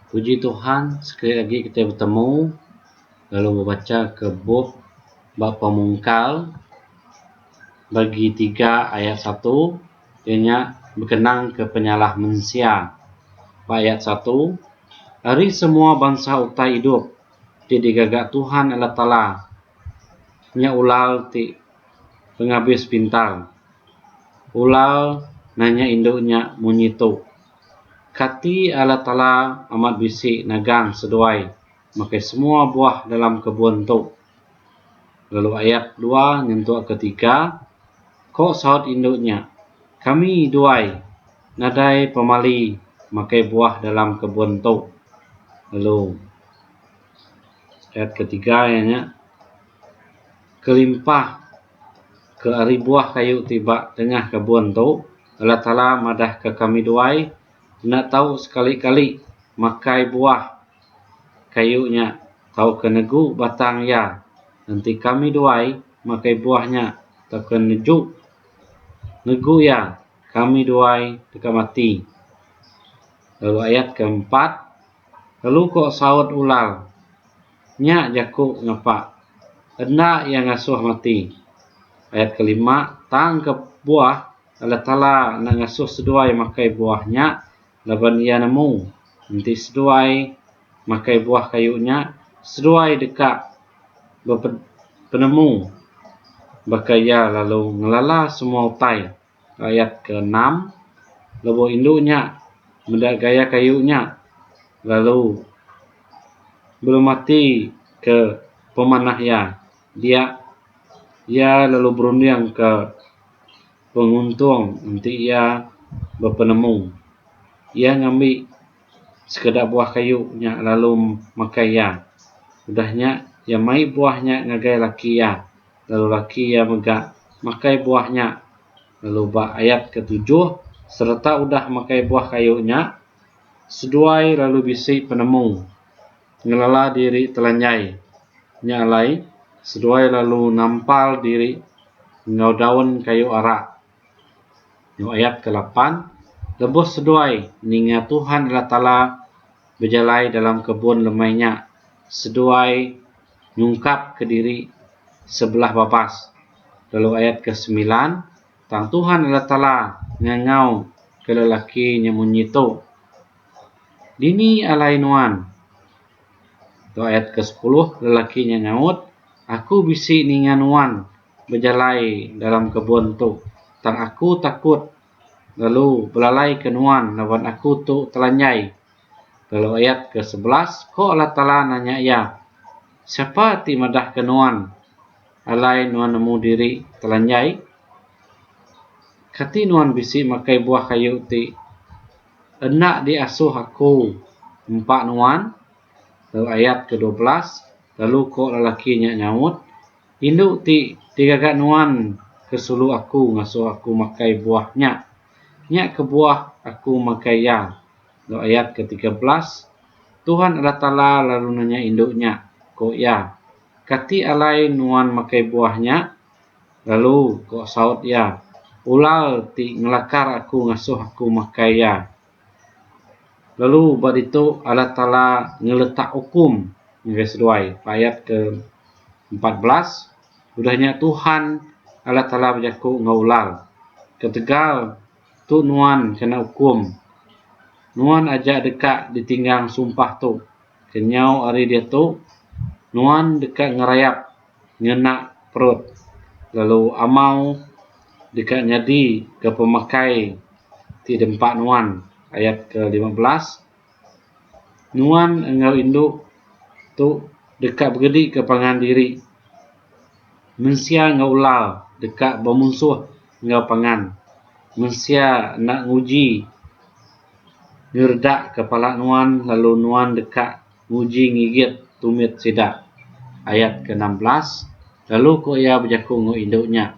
Puji Tuhan sekali lagi kita bertemu lalu membaca ke bup bab pemungkal bagi tiga ayat satu ianya berkenang ke penyalah mensia. Ba ayat satu ari semua bansa utai idup ti digaga Tuhan Allah Taala nya ulal ti pengabis pintar. Ulal nanya indu nya munyi tu. Kati Allah Taala amat bisi nagang seduai makai semua buah dalam kebun tu. Lalu ayak dua nyentuk ke tiga, ko saut indu nya, kami duai nadai pemali makai buah dalam kebun tu. Lalu ayat ke tiga iya nya kelimpah. Ke ari buah kayu ti ba tengah kebun tu, Allah Taala madahka kami duai enda tau sekali-kali makai buah kayu nya tauka negu batang iya enti kami duai makai buah nya tauka neju negu iya kami duai deka mati. Lalu ayat keempat. Lalu ko saut ular, Nya jaku ngapa? Enda iya ngasuh mati. Ayat kelima, Tang ke buah, Allah Taala enda ngasuh seduai makai buah nya laban Iya nemu enti seduai makai buah kayu nya, seduai deka bepenemu baka iya lalu ngelala semua utai. ayat ke enam lebuh indu nya meda gaya kayu nya lalu belum mati ke pemanah iya dia iya lalu berunding ke penguntung enti iya bepenemu iya ngambi sekeda buah kayu nya lalu makai iya udah nya iya mai buah nya ngagai laki iya. lalu laki iya mega makai buah nya lalu ba ayat ketujuh sereta udah makai buah kayu nya seduai lalu bisi penemu ngelala diri telanjai nya alai seduai lalu nampal diri enggau daun kayu ara lalu ayat ke lapan lebuh seduai ninga Tuhan Allah Taala bejalai dalam kebun lemai nya seduai nyungkap ke diri sebelah babas lalu ayat ke semilan tang Tuhan Allah Taala ngangau ke lelaki nya munyi tu dini alai nuan tu ayat ke sepuluh lelaki nya ngaut aku bisi ninga nuan bejalai dalam kebun tu tang aku takut lalu belalai ke nuan laban aku tu telanjai Lalu ayat ke sebelas, ko Allah Taala nanya iya, Siapa ti madah ke nuan, alai nuan nemu diri telanjai? Kati nuan bisi makai buah kayu ti enda di asuh Aku nempa nuan? Lalu ayat ke dua belas, lalu ko lelaki nya nyaut, Indu ti digaga nuan ke sulu aku ngasuh aku makai buah nya. Nya kebuah aku makai iya. Enggau ayat ke tiga belas, Tuhan Allah Taala lalu nanya indu nya, ku iya, Kati alai nuan makai buah nya? Lalu, ku saut iya, Ulal ti ngelakar aku ngasuh aku makai iya. Lalu ba ditu Allah Taala ngeletak ukum ngagai seduai. Ba ayat ke empat belas, udah nya Tuhan Allah Taala bejaku enggau ulal, Ketegal Tu nuan kena ukum. Nuan aja deka ditinggang sumpah tu. Kenyau ari diatu, nuan deka ngerayap ngena perut, lalu amau deka nyadi ke pemakai ti dempa nuan, ayat ke lima belas. nuan enggau indu tu deka begedika pangan diri mensia enggau ular deka bemusuh enggau pangan mensia enda nguji ngeredak ka pala nuan lalu nuan deka nguji ngigit tumit sida ayat ke enam belas lalu ko iya bejaku enggau indu nya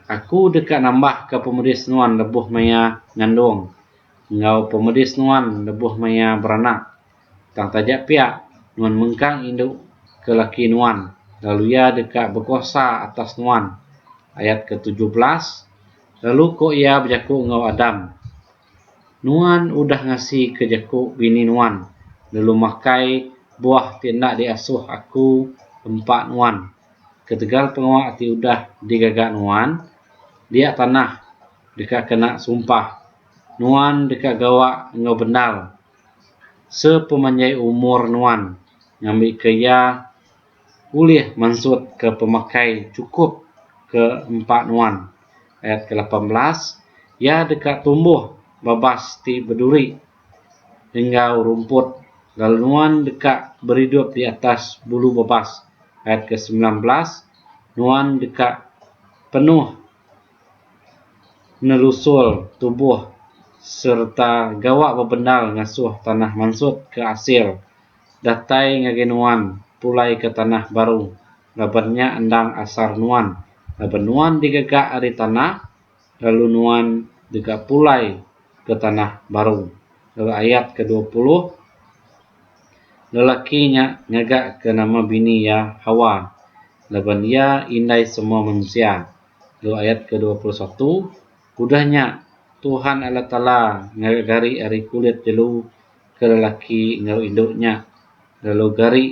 aku deka nambah ka pemedis nuan lebuh maya ngandung enggau pemedis nuan lebuh maya beranak. Tang taja pia, nuan mengkang indu ke laki nuan, lalu iya deka bekuasa atas nuan. Ayat ketujuh belas, Lalu ko iya bejaku enggau Adam, Nuan udah ngasika jaku bini nuan, lalu makai buah ti enda diasuh aku empa nuan. Ketegal pengawa ti udah digaga nuan, dia tanah deka kena sumpah nuan deka gawa enggau bendar sepemanjai umur nuan ngambika iya ulih mansut ke pemakai chukup ke empa nuan. Ayat ke lapan belas Iya deka tumbuh babas ti beduri enggau rumput lalu nuan deka beridup di atas bulu babas. Ayat ke semilan belas. nuan deka penuh nelusur tubuh sereta gawa bebendar ngasuh tanah mansut ke asil datai ngagai nuan pulai ke tanah baru laban nya endang asar nuan laban nuan digaga ari tanah lalu nuan deka pulai ke tanah baru. Lalu ayat ke dua puluh, lelaki nya ngaga ke nama bini iya Hawa, laban iya indai semua manusia. Lalu ayat ke dua puluh satu, udah nya Tuhan Allah Taala ngaga gari ari kulit jelu ke lelaki enggau indu nya, lalu gari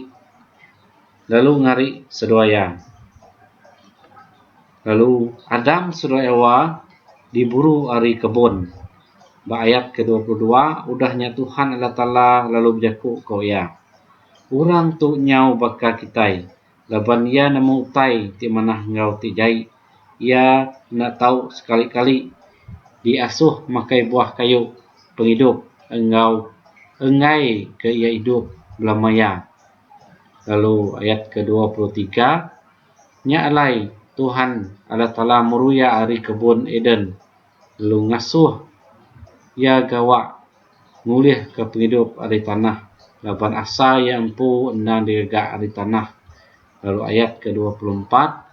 lalu ngari seduai iya. Lalu Adam sereta Ewa diburu ari kebun. Ba ayat kedua puluh dua, udah nya Tuhan Allah Taala lalu bejaku ko Iya, Orang tu nyau baka kitai, laban iya nemu utai ti manah enggau ti jai. Iya enda tau sekali-kali diasuh makai buah kayu pengidup enggau enggai ke iya idup belama iya. Lalu ayat kedua puluh tiga. Nya alai, Tuhan Allah Taala meruya ari kebun Eden lalu ngasuh Iya gawa ngulihka pengidup ari tanah laban asa iya empu endang digaga ari tanah. Lalu ayat ke dua puluh empat,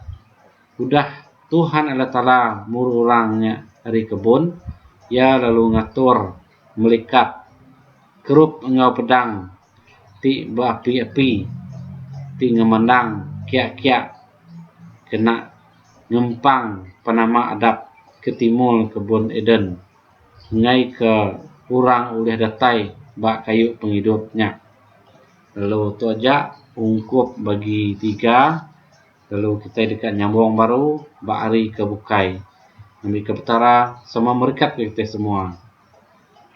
Udah Tuhan Allah Taala muru orang nya ari kebun, Iya lalu ngatur melikat kerup enggau pedang, ti beapi-api ti ngemandang kiak-kiak kena ngempang penama adat ke timur kebun Eden ngaika orang ulih datai ba kayu pengidup nya. Lalu tu aja ungkup bagi tiga lalu kitai deka nyambung baru ba hari ke bukai. Ngambika Petara sama merekat kitai semua.